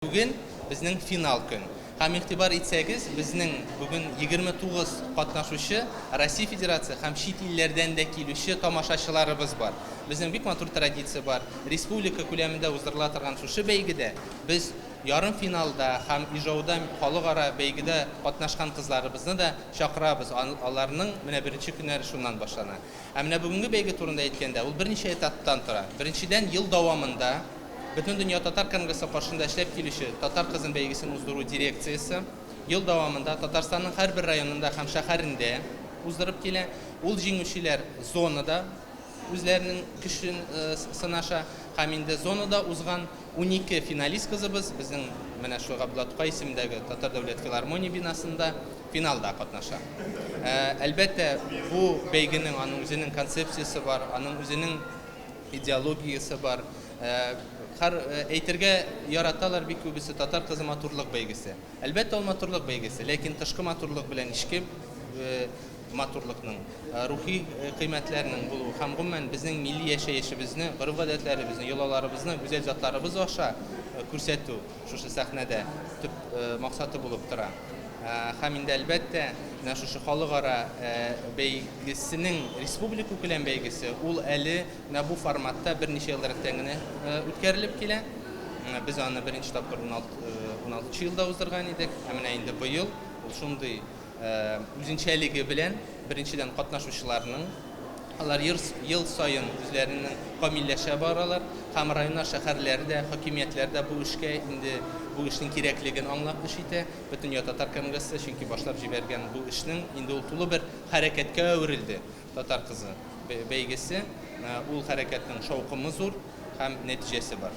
Бүген безнең финал көн. Һәм игътибар итсәгез, безнең бүген 29 катнашучы, Россия Федерация һәм чит илләрдән дә килүче тамашачыларыбыз бар. Безнең бик матур традиция бар. Республика күләмендә уздырыла торган шушы бәйгедә без ярымфиналда һәм Ижауда халыкара бәйгедә катнашкан кызларыбызны да чакырабыз, аларның менә беренче көннәре шуннан башлана. Ә менә бүгенге бәйге турында әйткәндә, ул берничә этаптан тора. Беренчедән, ел дәвамында, Бөтендөнья татар конгрессы каршында эшләп килүче Татар кызын бәйгесен уздыру дирекциясе ел дәвамында Татарстанның һәрбер районында һәм шәһәрендә уздырып килә. Ул җиңүчеләр зонада үзләренең көчен сынаша һәм инде зонада узган унике финалист кызыбыз безнең менә шул Габдулла Тукай исемендәге Татар дәүләт филармония бинасында финалда катнаша. Әлбәттә, бу бәйгенең аның үзенең концепциясе бар, аның үзенең Идеологиясе бар. Хар әйтергә яраталар бик күбесе татар кызы матурлык бәйгесе. Әлбәттә ул матурлык бәйгесе, ләкин тышкы матурлык белән эчке матурлыкның, рухи кыйммәтләрнең булуы һәм гомумән безнең милли яшәешебезне, гореф-гадәтләребезне, йолаларыбызны, гүзәл затларыбыз аша күрсәтү. Шушы сәхнәдә төп максаты булып тора. Һәм инде, әлбәттә, менә шушы халыкара бәйгесенең республикакүләм бәйгесе, ул әле менә бу форматта берничә елдан рәттән генә үткәрелеп килә. Без аны беренче тапкыр 16 нчы елда уздырган идек, ә менә инде быел ул шундый Үзенчәлеге белән, беренчедән, катнашучыларның. Алар ел саен үзләренең камилләшә баралар һәм районнар, шәһәрләр дә, хакимиятләр дә бу эшкә инде бу эшнең кирәклеген аңлап эш итә. Бөтендөнья татар конгрессы чөнки башлап җибәргән бу эшнең инде ул тулы бер хәрәкәткә әверелде. Татар кызы бәйгесе, ул хәрәкәтнең шаукымы зур һәм нәтиҗәсе бар.